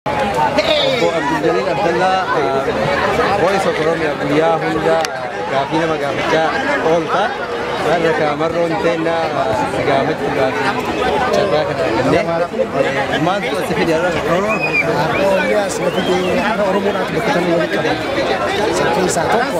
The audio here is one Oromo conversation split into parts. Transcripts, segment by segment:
Obbo Abduljalil Abdallaa Voice of Oromia guyyaa hunda gaafii nama gaafachaa oolta. Har'a kaamarroon teenna si gaafachuudhaaf carraa kana arganne. Maaltu si fide har'a? Akka Oromoon akka bakka walitti qaban. Isa keessaa tokko.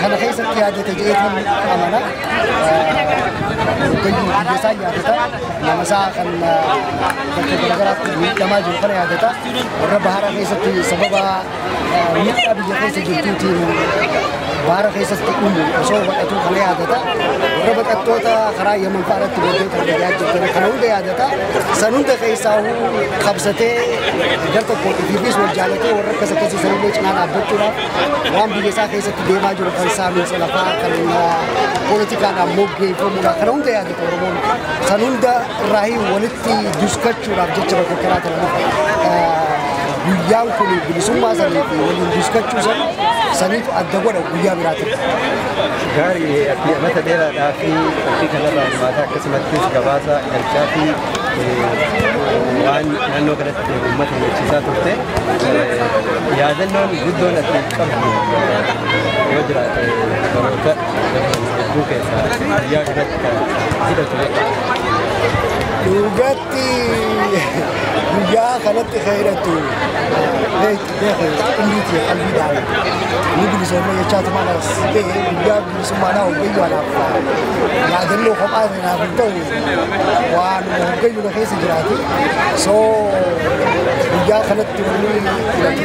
Kana keessatti yaadata jedheetiin amana. Hoggayyu biyyasaa yaadata. Namasaa kan bakka garaagaraatti miidhamaa jiru kana yaadata. Warra baharaa keessatti sababa miidhaa biyya keessa jirtuutiin baara keessatti uumu osoo baqatuu kana yaadata. Warra baqattoota karaa Yaman fa'aa irratti boodee kan biyyaa jirtan kana hunda yaadata. San hunda keessaa qabsatee gar tokkootiifis wal jaalatee warra akkas akkasii sanillee cinaa dhaabbachuudhaaf waan biyya isaa keessatti deemaa jiru kan saamiinsa lafaa kan poolitikaadhaan moggeeffamuudha kana hunda yaadatu Oromoon san hunda irraahii walitti duskachuudhaaf jecha bakka kanaa ta'an guyyaan kun bilisummaa sanii fi waliin duskachuu san saniif adda godha guyyaa biraatiin. Gaarii fi mata dheeraadhaa fi ofii kanarraa hirmaataa akkasumattis gabaasa galchaa fi waan naannoo kanatti uummata hubachiisaa turte yaadannoon guddoon ati qabdu yoo jiraate baroota hedduu keessaa biyyaa kanatti kan hidhatu dhugaatti guyyaa kanatti kan hidhattu umriitii qalbiidhaan ni bilisoomne jechaa tumaadhaas ta'e guyyaa bilisummaa naa hojjechuu anaaf yaadannoo kophaa naaf hin ta'u waanuma hoggayyuudha keessa jiraati. So guyyaa kanatti wanni filatu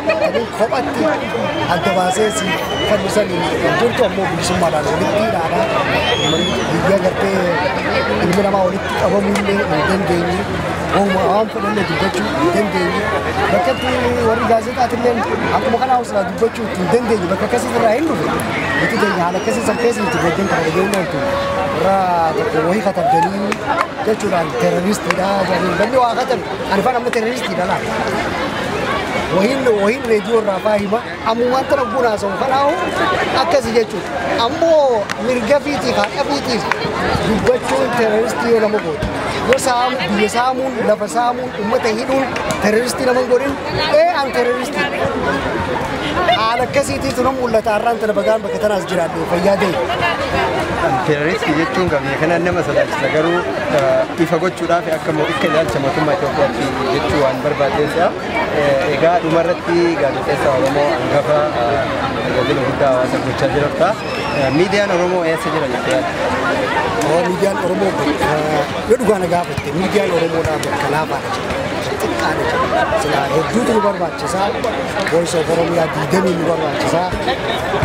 taatanii kophatti adda baasee si fannisan jirtu ammoo bilisummaadhaan walitti dhaabaa biyya gartee ilmi namaa walitti qabamuu illee hin dandeenye waanuma waan fedhanne dubbachuu hin dandeenye bakkatti warri gaazexaatillee akkuma kanaa usilaa dubbachuu hin dandeenye bakka akkasii irraa hin dhufu nuti keenya haala akkasii san keessa nuti gaddan kana dhageenye oltu irra tokko wayii katabdanii jechuudhaan terroristiidha jedhanii banni waa katan ani faan amma terroristiidha laa wahiin wahiin reediyoo irraa faa hima ammumaan tana bunaa sun kanaahu akkasi jechuudha ammoo mirga fiitiif haqa fiitiif dubbachuun terroristii yoo nama goote yoo saamu biyya saamuun lafa saamuun ummata hidhuun terroristii nama hin godhin Ee an terroristii. Haala akkasiitii tunu mul'ata har'aan tana bagaan bakka tanaas jiraadhu fayyaa ta'e. Terroristi jechuun qabee kana nama sodaachisa garuu eh, ifa gochuudhaaf akka mo- akka ilaalcha mootummaa Itoophiyaatti jechuu waan barbaadeessa. Eh, Egaa dhuma irratti gaazexeessa Oromoo hangafa eh, tajaajila guddaa hawaasa gochaa jirta. Eh, Miidiyaan Oromoo eessa jira jettee yaadda? Miidiyaan Oromoo bakka yoo dhugaa na gaafatte miidiyaan Oromoodhaa bakka laafaadha. xiqqaadha jedhe. Silaa hedduutu nu barbaachisa. Voice of Oromiyaa diidamii nu barbaachisa.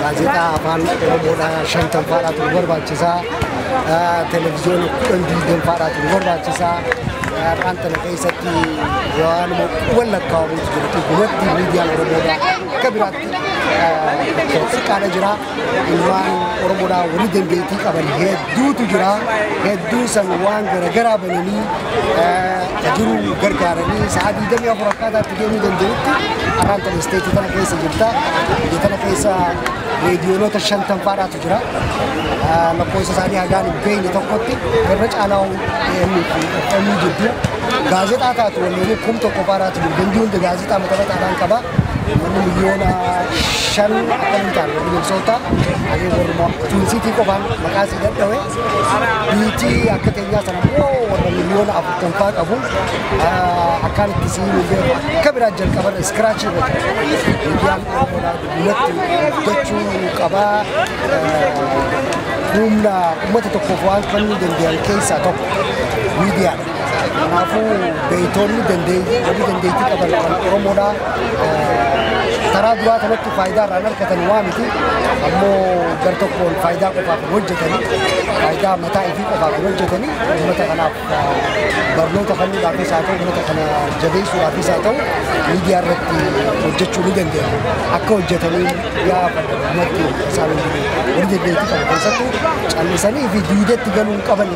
Gaazexaa afaan Oromoodhaa shantan faadhaatu nu barbaachisa. Televiziyoona kudhan diidam faadhaatu nu barbaachisa. Afaan tana keessatti waanuma quban lakkaa'amutu jiru. Dhugumatti miidiyaan Oromoodhaa akka biraatti xiqqaadha jira. Ilmaan Oromoodhaa warri dandeettii qaban hedduutu jira. Hedduu san waan garaagaraa bananii jiru gargaaranii sa'a 24 akkaataa itti deemuu danda'utti araan tan isteetii kana keessa jirta. Biyya kana keessa reediyoonota shantan faadhaatu jira. Lakkoofsa isaanii hagaan hin beekne tokkotti irra caalaa FM jidduu gaazexaa taatu waliin kum tokko faadhaatu jiru. Dandii hunda gaazexaa mataa mataa qaba. Uummanni miliyoona shan akka hin taane yookiin Minnesota hagee warruma Twin City qofaan maqaa sii dadhawe biitii akka teenyaa sana immoo warra miliyoona afurtan faa qabu ah, akkaan itti sii hin beeku akka biraa jalqaban scratch irra jira. Miidiyaan Oromoodhaa guddinatti gochuu qabaa. ah, Humna uummata tokkoof waan kennuu danda'an keessaa tokko miidiyaadha. Kanaafuu beektoonni dandeettii warri dandeettii qaban kan Oromoodhaa karaa duraa kanatti faayidaa irraa hin argatan waa miti. Ammoo gar tokkoon faayidaa qofaaf hin hojjetani. Faayidaa mataa ifii qofaaf hin hojjetani. Uummata kanaaf barnoota kennuudhaafis haa ta'u uummata kana jabeessuudhaafis haa ta'u miidiyaa irratti hojjechuu ni dandeenya. Akka hojjetanii yaa uummatti isaan warri dandeettii qaban keessattuu callisanii fi diideetti galuu hin qabani.